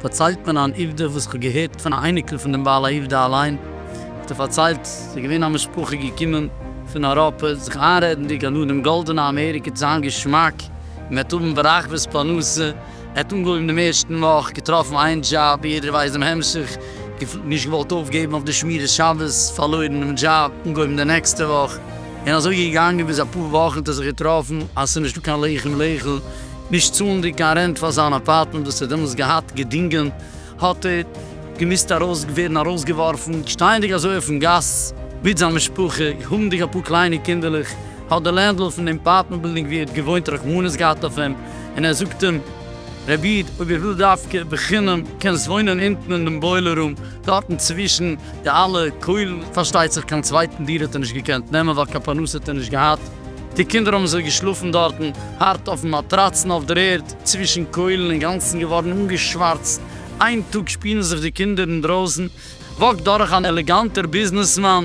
פארציילט מיר אן עובדה וואס כ'האב געהערט פון א אייניקל פון דעם בעל העובדה אליין, האט ער פארציילט, ס'איז געווען א משפחה געקומען פון אייראפע, זיך איינרעדנדיג אז נאר דעם גאלדענע אמעריקע וועט זיין געשמאק, און מ'וועט האבן ברחבות פרנסה, ער האט אנגעהויבן דעם ערשטן וואך, געטראפן איין דזשאב, יעדער ווייסט דעם המשך, געפילט נישט געוואלט אויפגעבן אויף די שמירת שבת, פארלוירן דעם דזשאב, אנגעהויבן די נעקסטע וואך, און אזוי געגאנגען ביז אפאר וואכן האט ער זיך געטראפן אז ס'איז נישטא קיין לחם לאכול, נישט צאלנדיג קיין רענט פאר זיין אפארטמענט וואס ער האט דעמאלס געהאט געדינגען, האט ער געמוזט ארויס ווערן ארויסגעווארפן. שטייענדיג אזוי אויפן גאס מיט זיין משפחה, האבנדיג אפאר קליינע קינדערלעך, האט דער לענדלארד פון דעם אפארטמענט בילדינג וואו ער האט געוואוינט רחמנות געהאט אויף אים, און ער זאגט אים, רבי איד, אויב איר ווילט דווקא בחינם, קענסט וואוינען אונטן אין דעם בוילער רום, דארטן צווישן די אלע קוילן, פארשטייט זיך קיין צווייטן דירה האט ער נישט געקענט נעמען ווייל קיין פרנסה האט ער נישט געהאט. די קינדער האָבן זיך געשלאָפֿן דאָרטן, האַרט אױפֿן מאַטראַץ און אױף דער ערד, צװישן קױלן, אין גאַנצן געװאָרן אָנגעשװאַרצט. אײן טאָג שפּילן זיך די קינדער אין דרױסן, װאַקט דורך אַן עלעגאַנטער ביזנעסמאַן.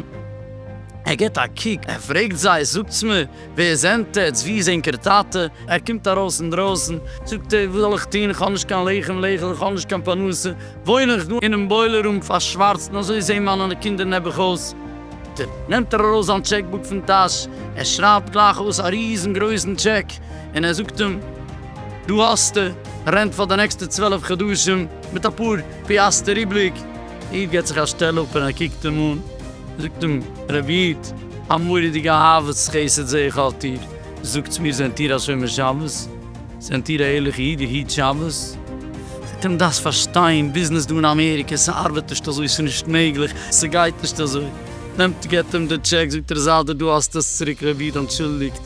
ער גיט אַ קוק, ער פֿרעגט זײ, זאָגטס מיר, װער זענט עטץ? װוּ איז ענקער טאַטע? ער קומט אַרױס אין דרױסן, זאָגט ער, װאָס זאָל איך טאָן? איך האָב נישט קײן לחם לאכול, איך האָב נישט קײן פּרנסה. וואוין איך דא אינעם בוילער רום פארשווארצטן, אזוי זעהן מיינע קינדער נעבעך אויס. ט, נעמט ער ארויס זיין טשעק בוק פון טאש, ער שרייבט גלייך אויס א ריזן גרויסן טשעק, און ער זאגט אים, דא האסטו רענט פאר די נעקסטע צוועלף חדשים, מיט אפאר פיאסטער איבריג. איד געט זיך א שטעל אפ און ער קוקט אים אן, זאגט אים, רבי איד, א מורא'דיגע אהבת חסד זעה איך אויף דיר, זאגטס מיר, זענט איר א שומר שבת? זענט איר א ערליכע איד איר היט שבת? אתם דארפסט פארשטיין, ביזנעס דא אין אמעריקע, ס'ארבעט נישט אזוי, ס'איז נישט מעגליך, ס'גייט נישט אזוי. נעמט געבט אים די טשעק זאגט ער איז איידער דא האסטו עס צוריק רבי איד אנטשולדיגט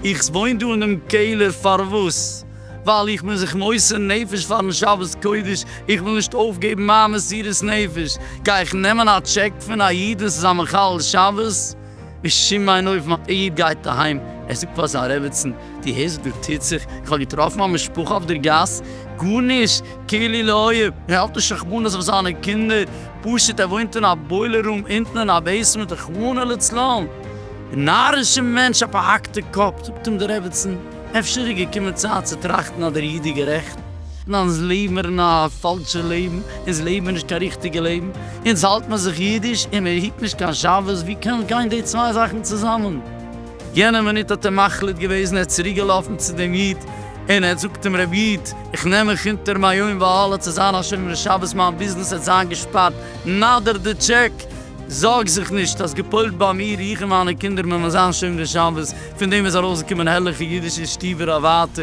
איך וואוין דא אינעם קעלער פארוואס? ווייל איך בין זיך מוסר נפש פארן שבת קודש, איך וויל נישט אויפגעבן מיין מסירות נפש, גיי איך נעמען א טשעק פון א איד און ס'איז א מחלל שבת? בשום אין אופן, א איד גייט אהיים, ער זאגט פאר זיין רעבעצן, דו הערסט וואס דא טוט זיך? איך האב געטראפן א משפחה אויף דער גאס, גארנישט, כאילו לא היה, ער האלט נישט רחמנות אויף זיינע קינדער, פשוט ער וואוינט אין א בוילער רום אונטן אין א בעיסמענט, רחמנא לצלן! נארישער מענטש, א פארהאקטע קאפ, זאגט אים דער רעבעצן. אפשר איז געקומען צייט צו טראכטן אז דער איד איז גערעכט, און אונז לעבן אין א פאלשע לעבן, אונז לעבן נישט קיין ריכטיגע לעבן, אונז האלט מען זיך אידיש און מען היט נישט קיין שבת, ווי קען גיין די צוויי זאכן צוזאמען? יענע מינוט האט ער מחליט געוועזן, ער איז צוריק געלאפן צו דעם איד און ער האט זאגט אים רבי איד איך נעם מיך אונטער מיין יום ואהלה צו זיין א שומר שבת, מיין ביזנעס העט זיין געשפארט, נאדער די טשעק. זארג זיך נישט, האסט געפועלט ביי מיר, איך און מיינע קינדער מען וועלן זיין שומרי שבת, פון דעם איז ארויסגעקומען הערליכע אידישע שטיווער אוואטע,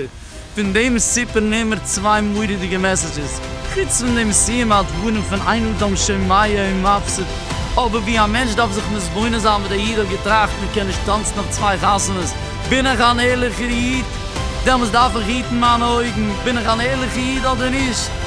פון דעם סיפור נעמער צוויי מורא'דיגע מעסעדזשעס, חוץ פון דעם סיום הדברים פון אין אדם שומע אין מפסיד, אבער ווי א מענטש דארף זיך מתבונן זיין ווי דער איד האט געטראכט מען קען נישט טאנצן אויף צוויי חתונות, בין איך אן ערליכער איד? דעמאלס דארף איך היטן מיינע אויגן, בין איך אן ערליכער איד אדער נישט?